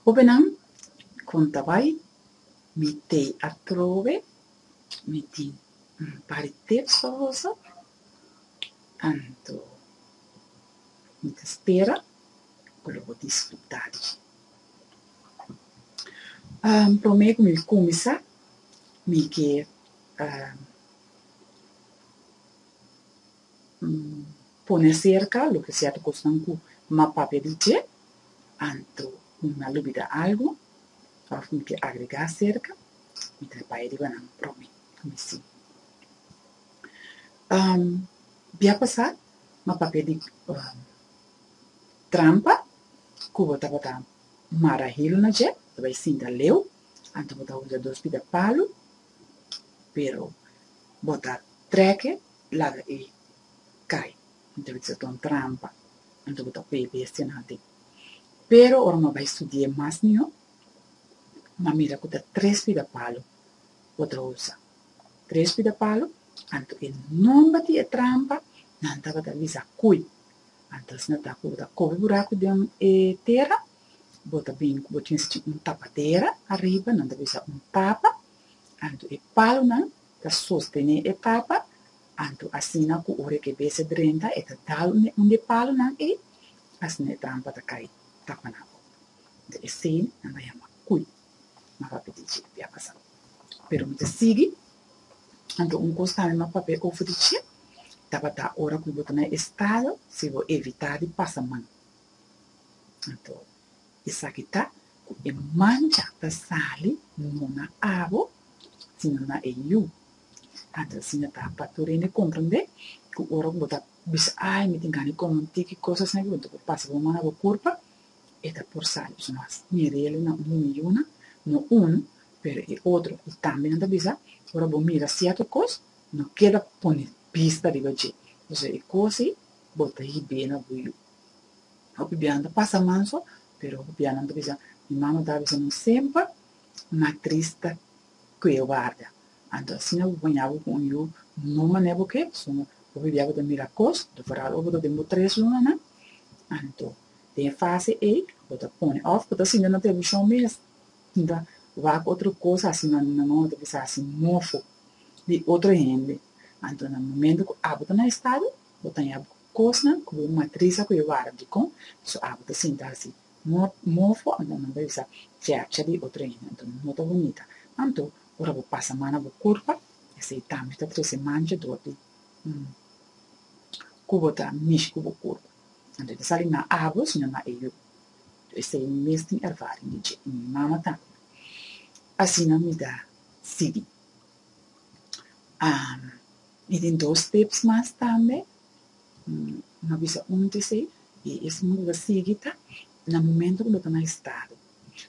Hobennan kon ta bai mi tei atrobe mi tin un par di tep soroso anto mi ta spera ku lo por disfrutá di dje promé ku mi kuminsá mi ke pone cerca loke cierto cosnan cu m'a papia di dje, anto cu m'a lubida algo of mi ke agrega cerca, mi ta bai riba nan probi cu mi si. Bia pasa m'a papia di trampa cu bo tabata mara hilo na dje, bo ta bai sinta leu, anto bo ta usa dos pita palu, pero bo ta treke Plaga ei kai. Anto bo bisa ta un trampa, anto bo ta pei bestia nan tin. Pero ora mi a bai studi'e mas mihó, mi a mira ku ta tres pidapalu bo ta usa. Tres pidapalu, anto e nomber di e trampa nan tabata bisa kui. Anto asina ta ku bo ta kobe buraku den e tera, bo ta bini ku bo tin schin un tapatera ariba, nan ta bisa un tapa, anto e palunan ta sostené e papa, anto asina ku ora ku e bese drenta e ta dal un di e palunan ei, asina e trampa ta kai tapanan op. Anto esei nan ta yama kui, nan papia di dje pia pasa. Pero mi ta sigui, anto un kos tambe mi a papia over di dje, tabata ora ku bo ta na e estado si bo evitá di pasa man. Anto Esaki ta ku e mancha ta sali no na abo sino na e yu. Anto asina e Tata tur hende komprendé ku ora ku bo ta bisa ai mi tin gana di kome un tiki kos asina ku bo ta por pasa bo mon na bo kurpa, e ta por sali. Pasobra mas mi rele na un humi yuna, no unu, pero e otro. I tambe nan ta bisa, ora bo mira sierto kos, no keda pone bista riba dje. Pasobra e kos ei bo ta hib'é na bo yu. Hopi biaha ta pasa manso, pero hopi biahanan ta bisa, Mi mama ta bisa nan semper, Na trista ku e warda. Anto asina bo baña bo ku un yu no mané. Porque suma hopi biaha bo ta mira kos, vooral ora bo ta den bo tres lunanan, anto den e fase ei bo ta pone òf bo ta sinti na televishon mes, sinta wak otro kos asi. Mi mama ta bisa asi mofo di otro hende. Anto na momentu ku abo ta na e stado bo ta ña bo. Kosnan ku bo matris a koe wara di kon di su awa ta sinta hasi. Mofo a mama bisa chèpcha di otro hende, anto no ta bonita. Anto, ora bo pasa man na bo kurpa, esei tambe ta trese mancha dor di ku bo ta mishi ku bo kurpa. Anto e ta sali na awa sino na e yu. Esei mi mes tin ervaring di dje, i mi mama tambe. Asina mi ta sigui. i tin dos tips mas tambe no a bisa un di esei i es un bo ta sigui ta na momento ku bo ta na estado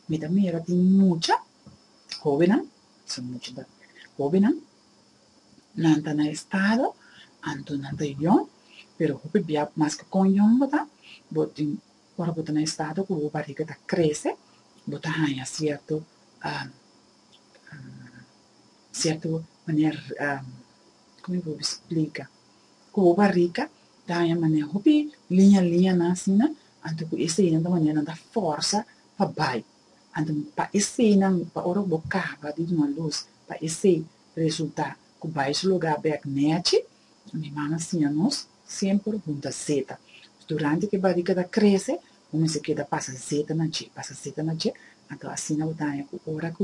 mi ta mira tin mucha hobennan son mucha ta hobennan nan ta na estado anto nan ta yòn pero hopi bia mas ku kon yòn bo ta bo tin ora bo ta na estado ku bo bariga ta krese bo ta haña sierto cierto manera como mi por explica cubo barrica ta haña manera hopi liña liñanan asina anto cu e cierto manera nan ta forsa pa bay anto pa e ciernan pa ora cu bo caba di duna luz pa e cier resulta cu bay su lugar bek nechi mi mami a siña nos semper hunta zeta durante que barrica ta crece bo mester keda pasa zeta na dje pasa zeta na dje anto asina bo ta haña cu ora cu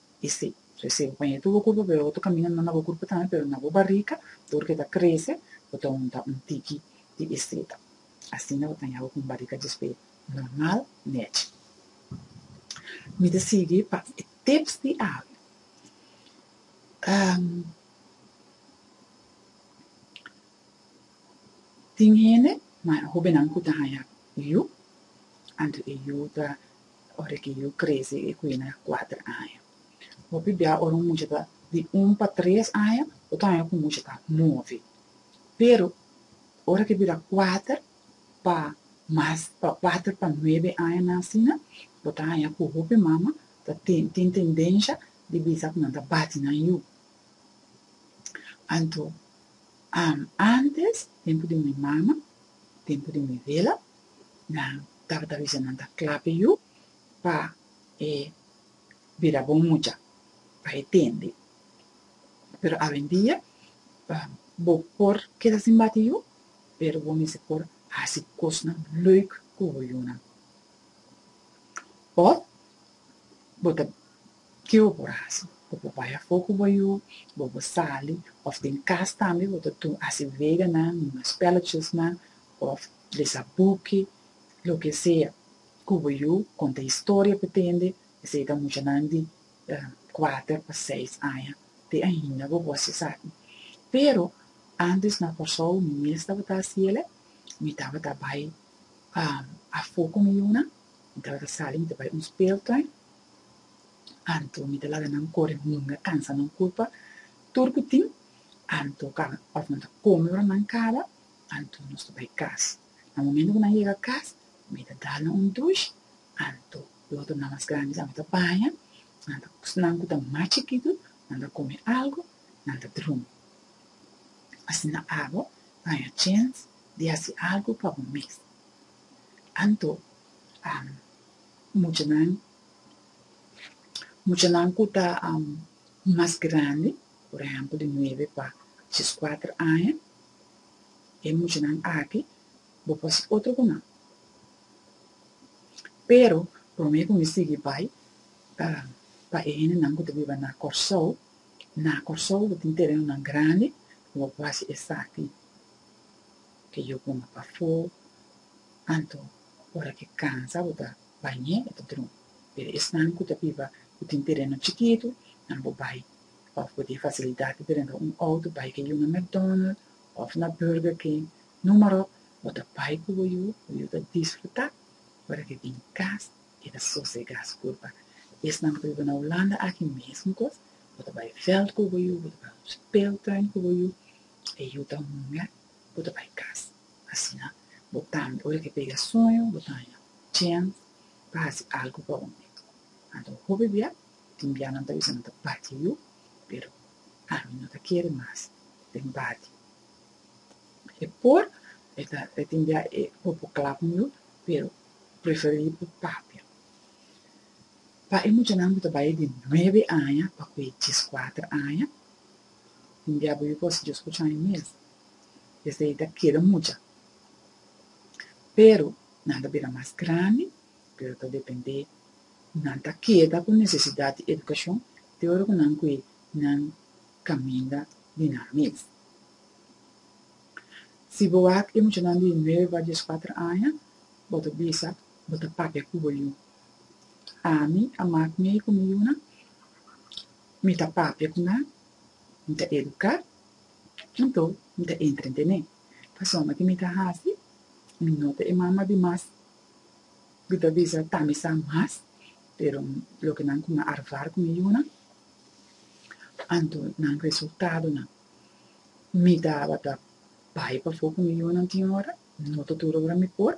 I si, resebe pañetu bo kurpa, pero bo ta kaminda na bo kurpa tambe, pero na bo barika, tur ke ta krese, bo ta hunta un tiki di e seta. Asina bo ta haña bo ku un barika djispe normal nèchi. Mi ta sigui pa e tips di Avi. Tin hende, hobenan ku ta haña yu, anto e yu ta Ora ki yu krese i ku yena kuater aña. Hopi bia ora un mucha ta di un pa tres aña, otro aña ku un mucha ta novi. Pero ora ke bira kuater pa mas, pa kuater pa nuebe aña nan asina, bo ta haña ku hopi mama ta tin, tin tendensha di bisa ku nan ta bati nan yu. Anto, antes, tempu di mi mama, tempu di mi vela, Nan tabata bisa nan ta klape yu pa e bira bon mucha, pa e tende. Pero awendia bo por keda sin bati yu, pero bo mester por hasi kosnan leuk ku bo yunan. Òf bo ta, ke bo por hasi? Bo por bai afó ku bo yu, bo por sali, òf den kas tambe bo ta hasi veganan, spèlletjesnan, òf lesa buki, loke sea, ku bo yu konta historia pa tende, esei ta muchanan di kuater pa seis aña, te ainda bo gosi esaki. Pero, ántes na Kòrsou mi mes tabata hasi el e, mi tabata bai afó ku mi yunan, mi tabata sali, mi ta bai un speeltuin, anto mi ta laga nan kore hunga, kansa nan kulpa, tur ku tin, anto ka òf nan ta kome ora nan kaba, anto nos ta bai cas. Na momento cu nan yega cas mi ta dalnan un dush, anto e otro nan mas grandi tambe ta baña, nan ta pus nan cu ta mas chikito nan ta come algo nan ta drumi. Asina abo baña chens di haci algo pa bo mes. Anto muchanan muchanan cu ta mas grandi. Por ehempel di nuebe pa djeskuater aña, e muchanan aki bo por hasi otro ku nan. Pero promé ku mi sigui bai ta pa e hendenan ku ta biba na Kòrsou. Na Kòrsou bo tin terenonan grandi ku bo por hasi esaki ke yu pon pafó, anto. Ora ke kansa bo ta bañ'é, bo ta drun. Pero esnan ku ta biba ku tin tereno chikitu, nan bo bai òf bo tin fasilidat di renta un outo bai ke yu na McDonald òf na Burger King, numero, bo ta bai ku bo yu, bo yu ta disfrutá. Ora ke bin kas, e ta sosegá sugur pa esnan ku ta biba na Hulanda aki mesun kos, bo ta bai veld ku bo yu, bo ta bai un speeltuin ku bo yu, e yu ta hunga, bo ta bai kas. Asina bo tambe, ora ke pega sueño, bo ta haña tjen pa hasi algu pa hopi. Anto un hopi bia tin bia nan ta bisa nan ta bati yu, pero ami no ta kere mas den bati. E por e ta e tin bia e popo kla ku yu, pero preferí por papia. Pa e muchanan ku ta bai di nuebe aña pa ku e dieskuater aña, tin bia bo yu ku hasi dioskucha aña mes. esei ta keda mucha, pero nan ta bira mas grandi, pero ta dependé, nan ta keda ku nesesidat di edukashon te ora ku nan kui nan kaminda di nan mes. Si bo wak e muchanan di nuebe pa dies kuater aña, bo ta bisa bo ta papia ku bo yu. Ami a mak mei ku mi yunan, mi ta papia ku nan, mi ta eduká. Anto mi ta entra den e persona ki mi ta hasi mi nota e mama di mas mi ta bisa ta mi sa mas pero loke nan kuma arvar ku mi yuna anto nan resultadonan mi tabata bai pafo ku mi yunan tin ora no ta tur ora mi por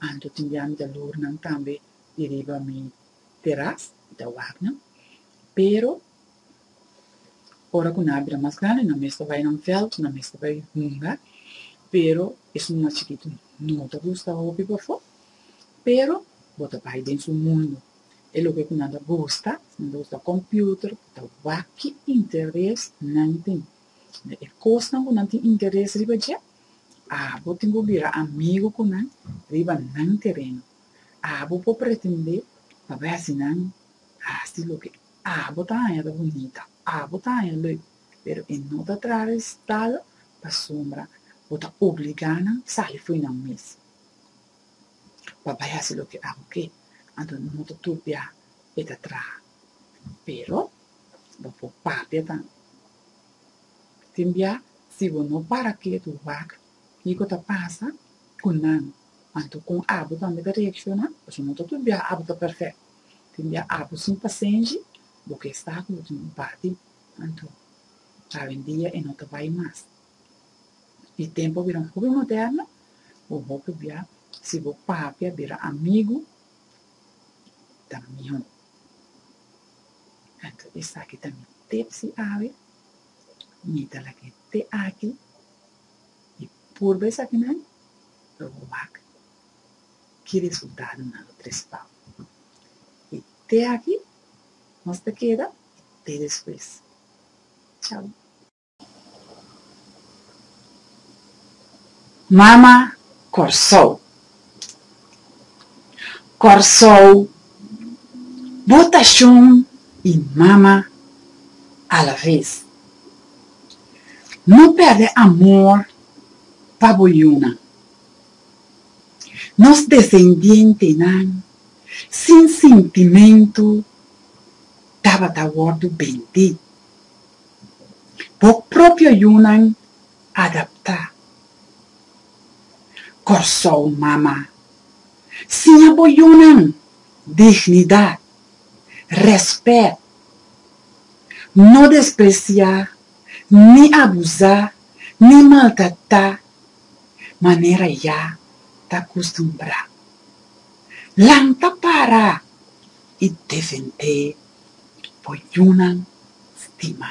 anto tin bia mi ta loor nan tambe di riba mi teras mi ta wak nan pero Ora cu nan a bira mas grandi nan mester bay na un veld, nan mester bay hunga, pero esun mas chikitu no ta gusta hopi bafo, pero bo ta bay den su mundo, e loke cu nan ta gusta, si nan ta gusta computer ta wak-chi interes nan tin, den e cosnan cu nan tin interes riba dje, abo tin cu bira amigo cu nan riba nan tereno, abo por pretende pa bay hasi nan hasi loke. Abo ta haña ta bunita, abo ta haña leuk, pero e no ta traha resultado pasobra bo ta obligá nan sali fo'i nan mes pa bai hasi loke abo ke. Anto no ta tur bia e ta traha. Pero bo por papia tambe. Tin bia si bo no para kiet wak kiko ta pasa ku nan, anto kon abo tambe ta reakshoná, pasobra no ta tur bia abo ta perfekto. Tin di a apu sin pasenshi, bo ke sta ku yo tin un parti, anto awendia e no ta bai mas. E tempu a bira un hopi moderno, bo hopi bia si bo papia bira amigu ta mihó. Anto esaki ta mi tip si awe, mi ta lag'é te aki i purba esakinan pa bo wak. ki resultadonan lo trespau. I te aki nos ta keda i te despues. Chau. Mama Kòrsou. Kòrsou bo ta shon i mama alaves. No pèrdè amor pa bo yunan. nos desendientenan sin sintimentu tabata wòrdu bendí. Bo propio yunan adaptá. Kòrsou Mama, siña bo yunan dignidat, rèspèt, no despresiá ni abusá ni maltratá manera ya ta custumbrá. Lang ta para y defendé bo yunan stima.